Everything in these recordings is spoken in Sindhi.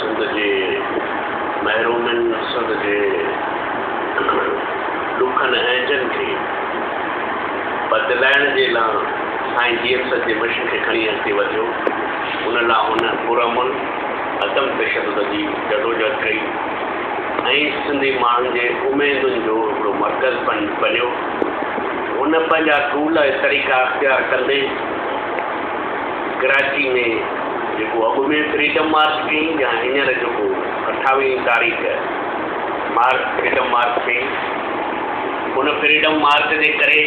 سنڌ جي محرومين سنڌ جي ڏکن اهنجن کي بدلائڻ جي لا سائين جي ايم سچ جي مشن کي کڻي اڳتي وڌيو ان لا هن پرامن عدم تشدد جي جدوجهد ڪئي ۽ سنڌي ماڻهن جي اميدن جو هڪڙو مرڪز بنيو هن پنهنجا ٽول ۽ طريقا اختيار ڪندي ڪراچي ۾ جيڪو اڳ ۾ فريڊم مارچ ٿي يا هينئر جيڪو اٺاويهين تاريخ مارچ فريڊم مارچ ٿي ان فريڊم مارچ جي ڪري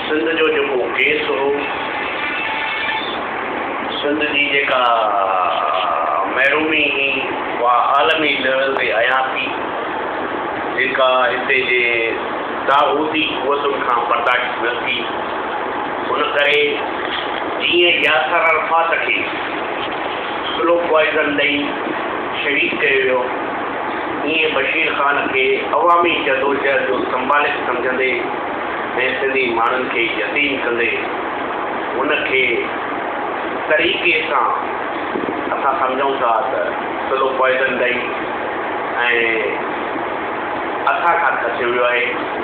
سنڌ جو جيڪو ڪيس هو سنڌ جي جيڪا محرومي هي اها عالمي ليول تي ايا ٿي جيڪا هتي جي طاغوتي قوتن کان برداشت نه ٿي. ان ڪري جيئن ياسر عرفات کي سلو پوائيزن ڏئي شهيد ڪيو ويو، ايئن بشير خان کي عوامي جدوجهد جو سمبالڪ سمجهندي ۽ سنڌي ماڻهن کي يتيم ڪندي ان کي طريقي سان اسان سمجهون ٿا ته سلو پوائيزن ڏئي ۽ اسان کان کسيو ويو آهي.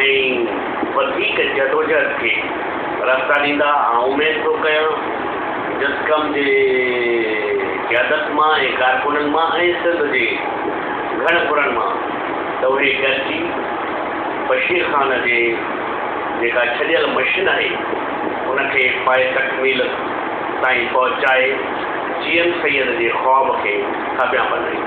۽ وڌيڪ جدوجهد کي رستا ڏيندا آئون اميد ٿو ڪيان جسقم جي قيادت مان ۽ ڪارڪنن مان ۽ سنڌ جي گهڻ پرن مان ته اهي گڏجي بشير خان جي جيڪا ڇڏيل مشن آهي ان کي پايي تڪميل تائين پهچائي جيئن سيد جي خواب کي ٿاڀيان بنائين.